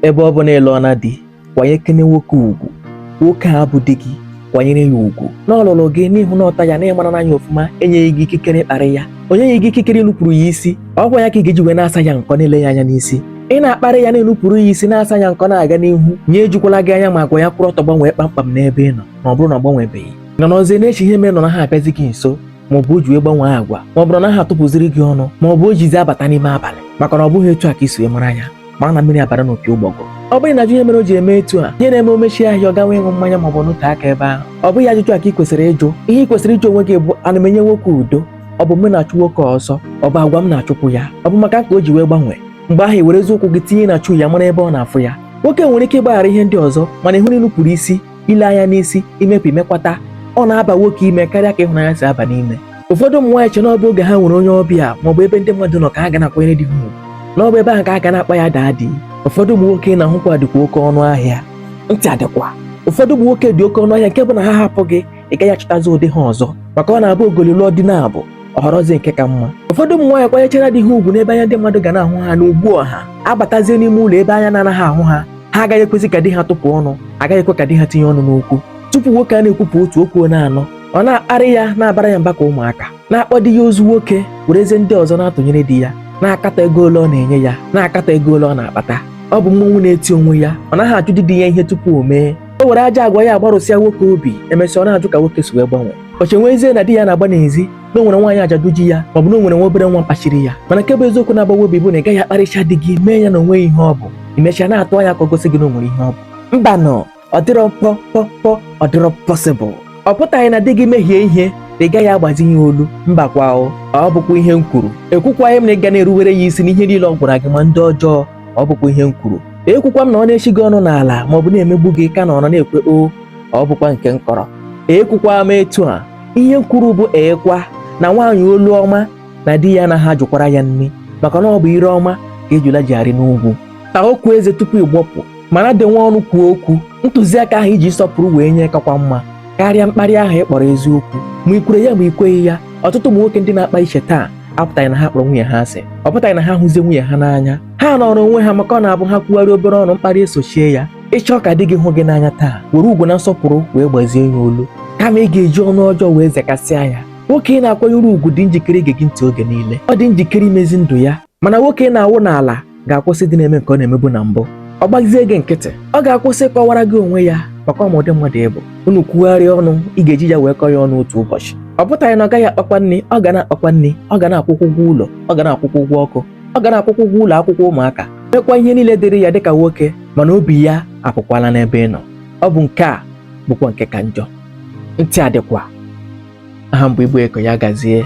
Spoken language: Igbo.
ebe ọ bụ na ị lụọla di kwanyekene nwoke ugwu nwoke a bụ di gị kwanyere ya ugwu na ọ lụrụ gị n'ihu na ọta ya na ị marana ya ọfụma enyeghị gị ikikere ịkparị ya o nyeghị gị ikikere ịnupụrụ ya isi ọ kwa ya ka ị ga-eji wee na-asa ya nkọ na-ele ya anya n'isi ị na-akparị ya na-enupụrụ ya isi na-asa ya nkọ na-aga n'ihu ya ejukwala gị anya ma agwa ya kwụrụ ọtọ gbanwee kpamkpam n'ebe ị nọ na ọ bụrụ na ọ gbanwebe gị nọrọzie na-eche ihe mere na ọ naghị abịazi gị nso ma ọ bụ o ji wee gbanwee agwa ma ọ bụ na ọ naghị atụpụziri gị ọnụ ma ọ bụ o jizi abata n'ime abalị maka na ọ bụghị etu a ka i si wee mara ya mara na mmiri abara n'opi ụgbọgụrụ ọ bụghị ịna-ajụ ihe mere o ji eme etu a ihe na-eme o mechie ahịa ọ gawa ịṅụ mmanya maọbụ nọtee aka ebe ahụ ọ bụghị ajụjụ a ka ị kwesịrị ịjụ ihe ị kwesịrị ịjụ onwe gị bụ ana m enye nwoke udo ọ bụ m na-achụ nwoke ọsọ ọ bụ agwa m na-achụpụ ya ọ bụ maka m ka o ji wee gbanwee mgbe ahụ i werezie ụkwụ gị tinye na shoe ya mara ebe ọ na-afụ ya nwoke nwere ike ịgbaghara ihe ndị ọzọ mana ị hụrụ ịnupụrụ isi ile anya n'isi imepe imekwata ọ na-aba nwoke ime karịa ka ịhụnanya si aba n'ime ụfọdụ ụmụ nwaanyị che na ọ bụ oge ha nwere onye ọbịa ma ọ bụ ebe ndị mmadụ nọ ka ha ga na-akwanyere di ha ugwu na ọ bụ ebe ahụ ka ha ga na-akpọ ya daddy ụfọdụ ụmụ nwoke na-ahụkwa dịkwa oke ọnụ ahịa ntị adịkwa ụfọdụ ụmụ nwoke dị oke ọnụ ahịa nke bụ na ha hapụ gị ị gaghị achọtazi ụdị ha ọzọ maka ọ na-abụ ogoli lụọ di naabọ ọ họrọzie nke ka mma ụfọdụ ụmụ nwaanyị kwanyechara di ha ugwu n'ebe anya ndị mmadụ ga na-ahụ ha n'ọgbọ ha abatazie n'ime ụlọ ebe anya na-anaghị ahụ ha ha agaghị ekwezi ka di ha tụpụ ọnụ agaghị ekwe ka di ha tinye ọnụ n'okwu tupu nwoke a na-ekwupụ otu o kwuona anọ ọ na-akparị ya na-abara ya mba ka ụmụaka na-akpọ di ya ozu nwoke werezie ndị ọzọ na-atụnyere di ya na-akatọ ego ole ọ na-enye ya na-akatọ ego ole ọ na-akpata ọ bụ mmọnwụ na-eti onwe ya ọ naghị ajụdị di ya ihe tupu o mee o were ajọ agwa ya agbarụsịa nwoke obi emesịa ọ na-ajụ ka nwoke si wee gbanwee o chewezie na di ya na-agba n'ezi na o nwere nwaanyị ajadu ji ya maọbụ na o nwere nwa obere nwa kpachiri ya mana nke bụ eziokwu na-agbawa obi bụ na ị gaghị akparịcha di gị mee ya na o nweghị ihe ọ bụ i mechaa na-atụ anya ka o gosi gị na o nwere ihe ọ bụ mbanụ ọ dịrọ pọ pọ pọ ọ dịrọ possible ọ pụtaghị na di gị mehie ihe na ị gaghị agbazi ya olu mba kwa o ọ bụkwa ihe m kwuru ekwukwaghị m na ị ga na-eruwere ya isi n'ihe niile ọ gwara gị ma ndị ọjọọ ọ bụkwa ihe m kwuru ekwukwa m na ọ na-echi gị ọnụ n'ala maọbụ na-emegbu gị ka ị nọrọ na-ekwe o ọ bụkwa nke m kọrọ ekwukwa m etu a ihe m kwuru bụ ekwa na nwaanyị olu ọma na di ya anaghị ajụkwara ya nri maka na ọ bụ ire ọma ka ejula ji arị n'ugwu taa okwu eze tupu ị gbọpụ ma na-adị nwayọ n'ikwu okwu ntụziaka ahụ i ji nsọpụrụ wee nye kakwa mma karịa mkparị ahụ ị kpọrọ eziokwu ma i kwere ya ma i kweghị ya ọtụtụ ụmụ nwoke ndị na-akpa iche taa apụtaghị na ha kpọrọ nwunye ha asị ọ pụtaghị na ha hụzie nwunye ha n'anya ha nọrọ onwe ha maka ọ na-abụ ha kwugharị obere ọnụ mkparị esochie ya ị chọọ ka di gị hụ gị n'anya taa were ugwu na nsọpụrụ wee gbazie ya olu kama ị ga-eji ọnụ ọjọọ wee zekasịa ya nwoke ị na-akwanyere ugwu dị njikere ige gị ntị oge niile ọ dị njikere imezi ndụ ya mana nwoke ị na-awụ n'ala ga-akwụsịdị ịna-eme nke ọ na-emebu na mbụ ọ gbazie gị nkịtị ọ ga-akwụsị ịkọwara gị onwe ya maka ọ ma ụdị mmadụ ị bụ unu kwugharịa ọnụ ị ga-eji ya wee kọọ ya ọnụ otu ụbọchị ọ pụtaghị na ọ gaghị akpakwa nri ọ ga na-akpakwa nri ọ ga na-akwụkwa ụgwọ ụlọ ọ ga na-akwụkwa ụgwọ ọkụ ọ ga na-akwụkwa ụgwọ ụlọ akwụkwọ ụmụaka mekwa ihe niile dịrị ya dịka nwoke mana obi ya apụkwala n'ebe ị nọ ọ bụ nke a bụkwa nke ka njọ ntị adịkwa aha m bụ igbo eko ya gazie